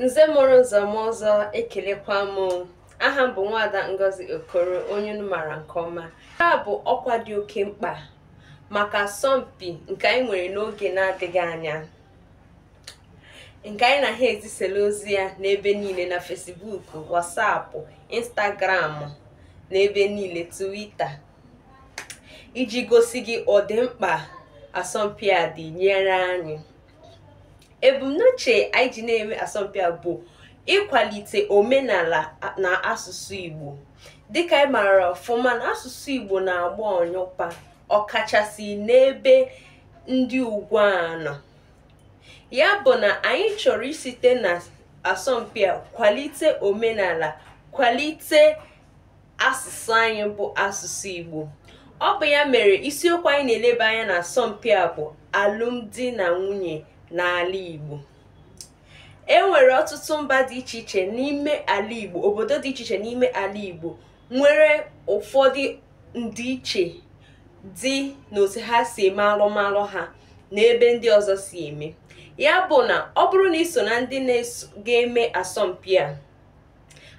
nze mụrụ nze mụọ ọzọ ekelekwa m aha m bụ nwada ngozi okoro onye unu maara nke ọma nke a bụ ọkwa dị oke mkpa maka asọmpi nke anyị nwere n'oge na-adịghị anya nke anyị na ha ezisela ozi ya n'ebe niile na fesibuuku wasapụ instagramụ na ebe niile tuwita iji gosi gị ụdị mkpa asọmpi a dị nyere anyị ebumnuche anyị ji na-eme asọmpi a bụ ịkwalite omenala na asụsụ Igbo dịka anyị maara ọfụma na asụsụ Igbo na-agba ọnyụpa ọkachasị n'ebe ndị ugbu a nọ ya bụ na anyị chọrọ isite na asọmpi a kwalite omenala kwalite asụsụ anyị bụ asụsụ Igbo ọ bụ ya mere isiokwu anyị na-eleba anya na asọmpi a bụ alụmdi na nwunye n'ala Igbo e nwere ọtụtụ mba dị iche iche n'ime ala Igbo obodo dị iche iche n'ime ala Igbo nwere ụfọdụ ndịiche dị n'otu ha si eme alụmalụ ha na ebe ndị ọzọ si eme ya bụ na ọ bụrụ na ị so na ndị ga-eme asọmpi a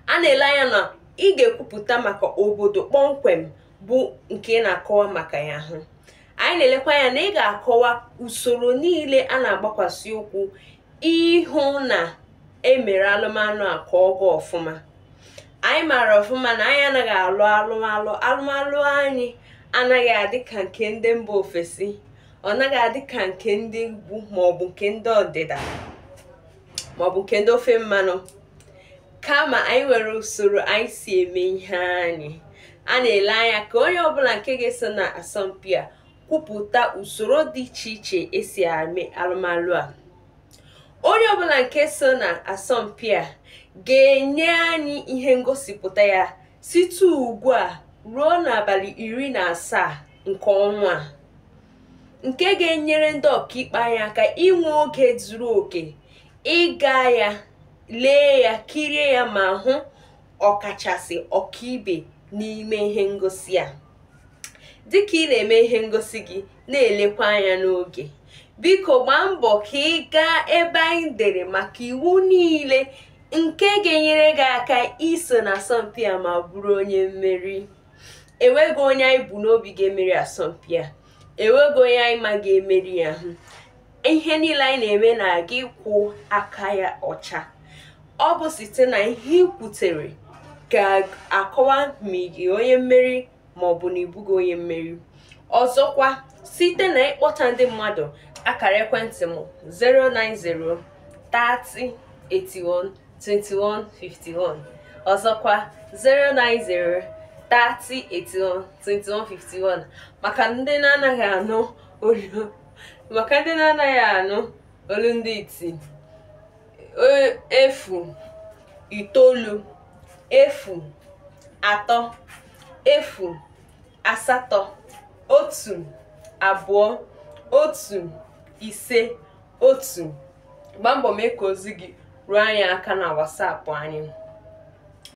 a na-ele anya na ị ga-ekwupụta maka obodo kpọmkwem bụ nke ị na-akọwa maka ya hụ anyị na-elekwa anya na ị ga-akọwa usoro niile a na-agbakwasị ụkwụ ịhụ na e mere alụmalụ a ka ọ gaa ọfụma anyị maara ọfụma na anyị anaghị alụ alụmalụ alụmalụ anyị anaghị adị ka nke ndị mba ofesi ọ naghị adị ka nke ndị ugwu maọbụ nke ndị ọdịda maọbụ nke ndị ofe mmanụ kama anyị nwere usoro anyị si eme ihe anyị a na-ele anya ka onye ọbụla nke ga-eso na asọmpi a kwupụta usoro dị iche iche e si eme alụmalụ a onye ọbụla nke so na asọmpi a ga-enye anyị ihe ngosipụta ya site ugbu a ruo n'abalị iri na asaa nke ọnwa a nke ga-enyere ndị ọkaikpe anyị aka inwe oge zuru oke ịga ya lee ya kirie ya ma hụ ọkachasị ọkaibe n'ime ihe ngosi a dịka ị na-eme ihe ngosi gị na-elekwa anya n'oge biko gbaa mbọ ka ị gaa ebe anyị dere maka iwu niile nke ga-enyere gị aka iso na asọmpi a ma bụrụ onye mmeri enweghị onye anyị bu n'obi ga-emeri asọmpi a enweghị onye anyị ma ga-emeri ya hụ ihe niile anyị na-eme na-aga ịkwụ aka ya ọcha ọ bụ site na ihe i kwutere ga-akọwa ma ị bụ onye mmeri ma ọ bụ na ị bụghị onye mmeri ọzọkwa site na ịkpọta ndị mmadụ akara ekwentị m 090 30 81 2151 ọzọkwa 090 3081 2151 maka ndị na-anaghị anụ olu ndị iti e, efu itoolu efu atọ efu asatọ otu abụọ otu ise otu gbaa mbọ mee ka ozi gị ruo anyị aka na whatsapp anyị